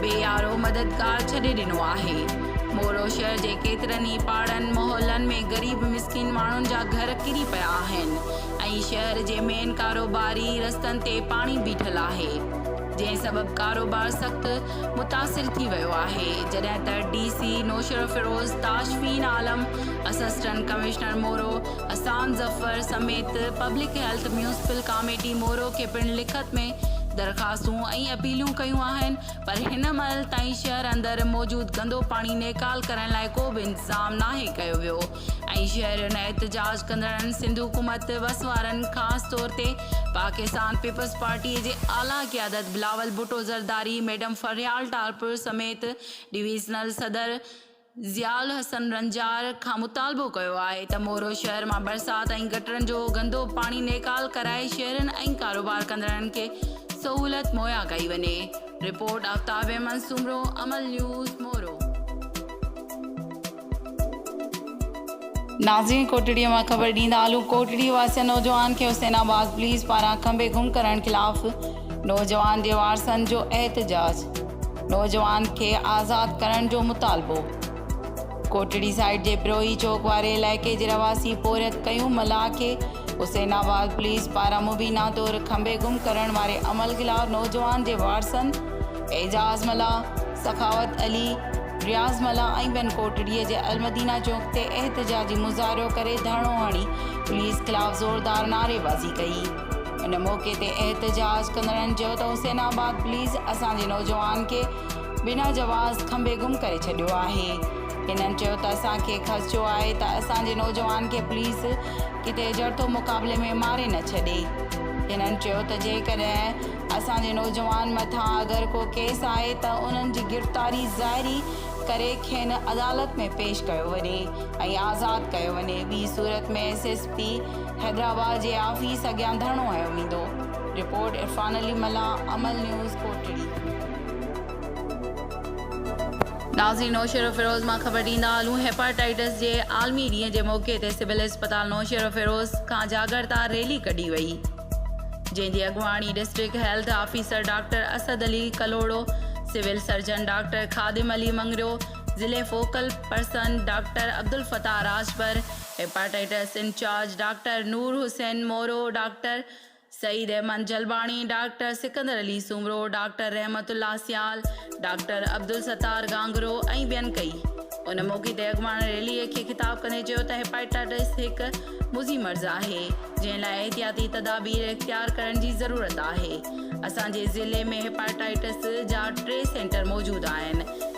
بي يارو مددگار ڇڏي ڏنو آهي. مورو شهر جي ڪيترن ئي پاڙن محلن ۾ غريب مسڪين ماڻهن جا گهر ڪري پيا آهن ۽ شهر جي مين ڪاروباري رستن تي پاڻي بيٺل آهي جنهن سبب ڪاروبار سخت متاثر ٿي ويو آهي جڏهن ته D C Naushahro Feroze Tashfeen Alam assistant commissioner Moro Ehsan Zafar سميت public health municipal committee Moro کي پڻ لکت ۾ درخواستون ۽ اپيلون ڪيون آهن پر هن مهل تائين شهر اندر موجود گندو پاڻي نيڪال ڪرڻ لاء ڪو به انتظام ناهي ڪيو ويو ۽ شهرين ۽ احتجاج ڪندڙن سنڌ حڪومت وس وارن خاص طور تي پاڪستان پيپلز پارٽي جي اعليٰ قيادت بلاول ڀٽو زرداري ميڊم فريال ٽالپر سميت ڊويزنل صدر ضياء الحسن رنجار کان مطالبو ڪيو آهي ته مورو شهر مان برسات ۽ گٽرن جو گندو پاڻي نيڪال ڪرائي شهرين ۽ ڪاروبار ڪندڙن کي سهولت مهيا ڪئي وڃي رپورٽ آفتاب احمد سومرو امل نيوز مورو. ناظرين ڪوٽڙي مان خبر ڏيندالون ڪوٽڙي واسين نوجوان کي حسين آباد پوليس پاران کنڀي گم ڪرڻ خلاف نوجوان جي وارثن جو احتجاج. نوجوان کي آزاد ڪرڻ جو مطالبو ڪوٽڙي سائيٽ جي بروهي چوڪ واري علائقي جي رهواسي پورهيت ڪيوم ملاح کي حسين آباد پوليس پاران مبينا طور کنڀي گم ڪرڻ واري عمل خلاف نوجوان جي وارثن اعجاز ملاح، سخاوت علي، رياض ملاح ۽ ٻين ڪوٽڙي جي المدينه چوڪ تي احتجاجي مظاهرو ڪري ڌرڻو هڻي پوليس خلاف زوردار نعريبازي ڪئي. ان موقعي تي احتجاج ڪندڙن چيو ته حسين آباد پوليس اسان جي نوجوان کي بنا جواز کنڀي گم ڪري ڇڏيو آهي هنن چيو ته اسان کي خدشو آهي ته اسان جي نوجوان کي پوليس ڪٿي جڙتو مقابلي ۾ ماري نه ڇڏي هنن چيو ته جيڪڏهن اسان جي نوجوان مٿان اگر ڪو ڪيس آهي ته انهن جي گرفتاري ظاهري ڪري کين عدالت ۾ پيش ڪيو وڃي ۽ آزاد ڪيو وڃي ٻي صورت ۾ ايس ايس پي حيدرآباد جي آفيس اڳيان ڌرڻو هنيو ويندو، رپورٽ عرفان علي ملاح، امل نيوز، ڪوٽڙي. ناظرين نوشهروفيروز مان خبر ڏيندا هلون هيپاٽائيٽس جي عالمي ڏينهن جي موقعي تي سول اسپتال نوشهروفيروز کان جاڳرتا ريلي ڪڍي وئي جنهن جي اڳواڻي district health officer doctor Asad Ali Kalhoro civil surgeon doctor Khadim Ali Mangrio ضلعي focal person doctor Abdel Fattah Rajpar hepatitis incharge doctor Noor Hussain Moro, doctor Saeed Ahmed Jalbani, doctor Sikandar Ali Soomro, doctor Rehmat Ullah Sial, doctor Abdul Sattar Gangro ۽ ٻين ڪئي. ان موقعي تي اڳواڻ ريلي کي خطاب ڪندي چيو ته هيپاٽائٽس هڪ مضي مرض آهي جنهن لاء احتياطي تدابير اختيار ڪرڻ جي ضرورت آهي، اسان جي ضلعي ۾ هيپاٽائٽس جا ٽي سينٽر موجود آهن،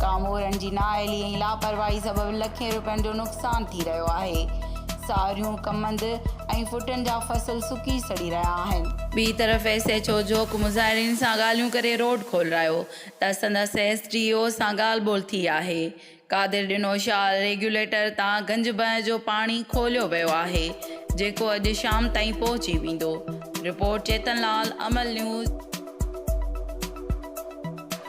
ڪامورن جي نااهلي ۽ لاپرواهي سبب لکين روپين جو نقصان ٿي رهيو آهي، ساريون، ڪمند ۽ ڦٽن جا فصل سڪي سڙي رهيا آهن. ٻي طرف ايس ايڇ او جوک مظاهرين سان ڳالهيون ڪري روڊ کولرايو ته سندس ايس ڊي او سان ڳالهه ٻولهه ٿي آهي، قادر ڏنو شال ريگيوليٽر تان گنج بنهه جو پاڻي کوليو ويو آهي جيڪو اڄ شام تائين پهچي ويندو، رپورٽ چيتن لال امل نيوز.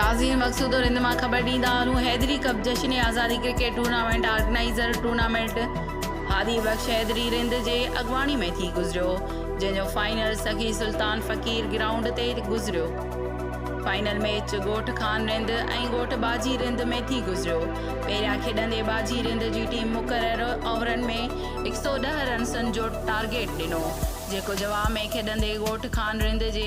ناظرين مقصود رند مان خبر ڏيندا هارون حيدري ڪپ جشن آزادي cricket tournament organiser tournament Hadi Bakhsh Haidri Rind جي اڳواڻي ۾ ٿي گذريو جنهن جو فائنل سخي سلطان فقير گرائونڊ تي گذريو فائنل ميچ ڳوٺ خان رند ۽ ڳوٺ باجي رند ۾ ٿي گذريو پهريان کيڏندي باجي رند جي ٽيم مقرر اوورن ۾ هڪ سؤ ڏهه رنسن جو ٽارگيٽ ڏنو جيڪو جواب ۾ کيڏندي ڳوٺ خان رند جي